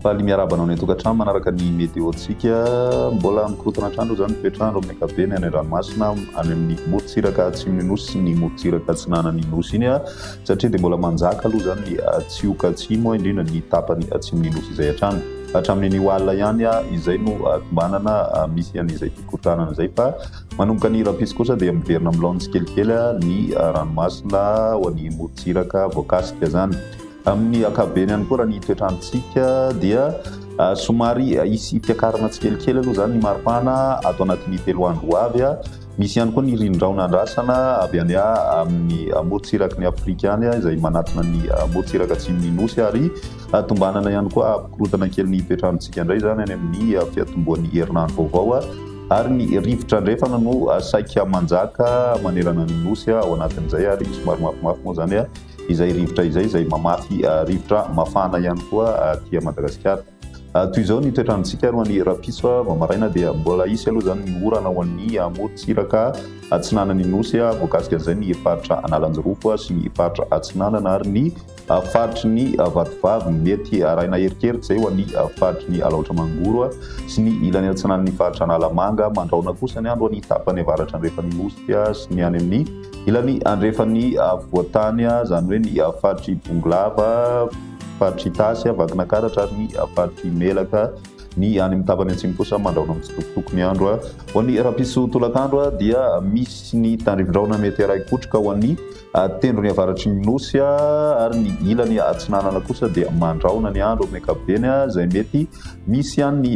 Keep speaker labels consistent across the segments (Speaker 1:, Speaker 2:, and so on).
Speaker 1: Faly miarahaba anao any an-tokantrano manaraka ny météo-tsika. Mbola mikorontana hatrany aloha izany ny toetr'andro amin'ny ankapobeny any an-dranomasina, any amin'ny morontsiraka atsimon'ny nosy sy ny morontsiraka atsinanan'ny nosy iny. satria dia mbola manjaka aloha izany ny Atsioka Atsimo, indrindra ny tapany atsimon'ny Nosy izay hatrany. Hatramin'ny anio alina ihany izay no tombanana misy an'izay fikorontanana izay fa manomboka ny rahampitso kosa dia miverina amin'ny laoniny tsikelikely ny ranomasina ao an'ny morontsiraka voakasika izany. Amin'ny ankapobeny ihany koa raha ny toetrandrontsika dia somary hisy fiakarana tsikelikely aloha izany ny maripana ato anatin'ny telo andro ho avy. Misy ihany koa ny ririndraona andrasana avy any amin'ny morontsiraky ny Afrika any izay manatona ny morontsiraka atsimon'ny Nosy ary tombanana ihany koa hampikorontana kely ny toetr'androntsika indray izany any amin'ny fiatombohan'ny herinandro vaovao ary ny rivotra andrefana no saika manjaka manerana ny Nosy ao anatin'izay ary somary mafimafy moa izany izay rivotra izay izay mamafy rivotra mafana ihany koa aty Madagasikara. Toy izao ny toetrantsika ary ho an'ny rapitso, vao maraina dia mbola hisy aloha izany ny orana ho an'ny amorontsiraka atsinanan'ny Nosy, voakasika an'izay ny faritra Analanjirofo sy ny faritra Atsinanana ary ny faritry ny Vatovavy. Mety arahina erikeriky izay ho an'ny faritry ny Alaotra Mangoro sy ny ilany atsinanan'ny faritra Analamanga. Mandrahona kosa ny andro any tapany avaratra andrefan'ny Nosy sy ny any amin'ny ilany andrefan'ny afovoan-tany, izany hoe ny faritr'i Bongolava. Faritra Itasy a, Vakinankaratra ary ny Faritra Imelaka, ny any amin'ny tapany atsimo kosa mandrahona mitsitokotoko ny andro. Ho an'ny rapiso tolakandro dia misy ny tandrivindrahona mety haray kotroka ho an'ny tendrony avaratry ny Nosy ary ny ilany atsinanana kosa dia mandrahona ny andro amin'ny ankapobeny izay mety misy ihany ny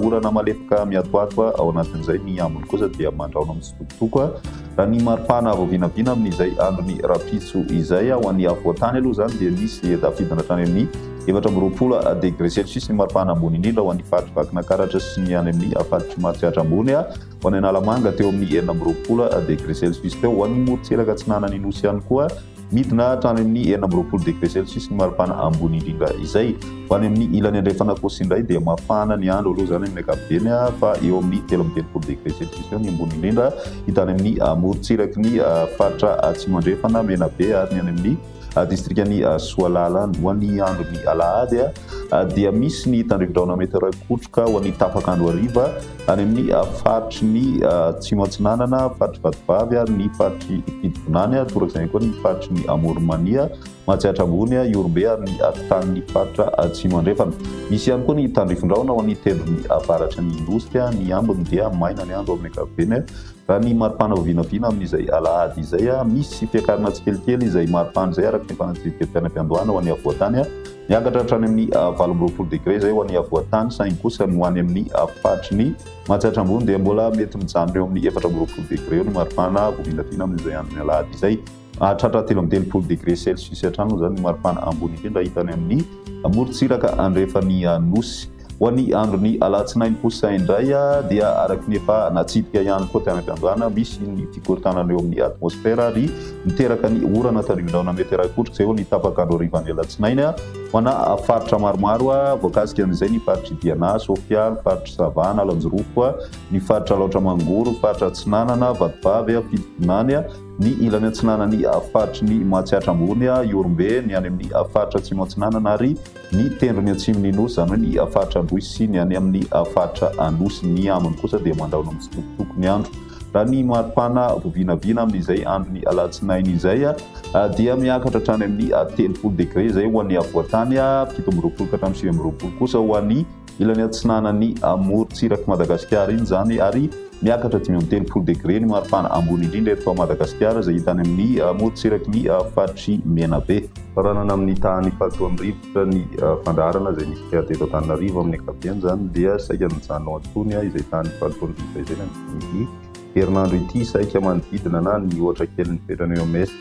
Speaker 1: orana malefaka miatoato ao anatin'izay. Ny ambiny kosa dia mandrahona mitsitokotoko. Tompoko a! Raha ny maripana vao vinavina amin'izay andron'ny rahampitso izay, ho an'ny afovoan-tany aloha izany dia misy tafiditra hatrany amin'ny efatra amby roapolo degré celsius ny maripana ambony indrindra ho an'ny faritry Vakinakaratra sy ny any amin'ny faritry Matsiatra Ambony, ho any Analamanga teo amin'ny enina amby roapolo degré celsius teo, ho an'ny morontsiraka atsinanan'ny Nosy ihany koa. Midina hatrany amin'ny enina amby roapolo degre celsius ny maripana ambony indrindra izay. Ho any amin'ny ilany andrefana kosa indray dia mafana ny andro aloha izany amin'ny ankapobeny fa eo amin'ny telo amby telopolo degre celsius eo ny ambony indrindra hita any amin'ny morontsiraky ny faritra atsimo andrefana, Menabe ary ny any amin'ny distrikan'i Soalala. Ho an'ny andron'ny alahady dia misy ny tandrin-drahona mety rakotroka ho an'ny tapak'andro hariva. Any amin'ny faritry ny Atsimo Atsinanana, faritry Vatovavy ary ny faritry Fidibonany, torak'izay ihany koa ny faritry ny Amoron'Mania, Matsiatra Ambony, Ihorombe ary ny afotanin'ny faritra Atsimo Andrefana. Misy ihany koa ny tandrifondrahona ao amin'ny tendrony avaratry ny Nosy. Ny ambiny dia maina ny andro amin'ny ankapobeny. Raha ny maripana vao vinavina amin'izay alahady izay, misy fiakarana tsikelikely izay maripana izay araka ny fanadihadiam-piainam-piandohana ho an'ny afovoan-tany. Miakatra hatrany amin'ny valo amby roapolo degre izay ho an'ny havoan-tany saingy kosa ny ho any amin'ny faritry ny matsiatra ambony dia mbola mety mijanona eo amin'ny efatra amby roapolo degre eo ny maripana vao vinavina amin'izay andron'ny alahady izay. Hahatratra telo amby telopolo degre celsius hatrany moa izany ny maripana ambony indrindra hita any amin'ny morontsiraka andrefan'ny Nosy. Ho an'ny andron'ny alatsinainy kosa indray dia araka ny efa natsidika ihany koa tany am-piandohana, misy ny fikorontanana eo amin'ny atmosfera ary miteraka ny orana tandrivindraona mety iray kotrika eo ny tapak'andro harivan'ny alatsinainy ho ana faritra maromaro voakasika amin'izay ny faritr'i Diana, Sofia, ny faritr'i Sava, Analanjirofo, ny faritra Alaotra Mangoro, ny faritra Atsinanana, Vatovavy, Fitovinany, ny ilany atsinanan'ny faritry ny Mahatsiatra Ambony, Ihorombe, ny any amin'ny faritra Atsimo Atsinanana ary Ny tendrony atsimon'ny Nosy, izany hoe ny faritra Androy sy ny any amin'ny faritra Anosy, ny ambiny kosa dia mandao ny mitsitokotoko ny andro. Raha ny maripana vao vinavina amin'izay andron'ny alatsinainy izay dia miakatra hatrany amin'ny telopolo degre izay ho an'ny afovoan-tany, fito amby roapolo ka hatramin'ny sivy amby roapolo kosa ho an'ny Ilany atsinanan'ny morontsirak'i Madagasikara iny izany ary miakatra dimy amby telopolo degre ny maripana ambony indrindra eto Madagasikara izay hita any amin'ny morontsiraky ny faritry Menabe. Faranana amin'ny tahan'ny fahatoan'ny rivotra ny fandaharana izay nisy teto Antananarivo amin'ny ankapobeny izany dia saika nijanona ao an-tsony izay tahan'ny fahatoan'ny rivotra izay nandritry ny herinandro ity saika manodidina na nihoatra kely ny fetrany oms.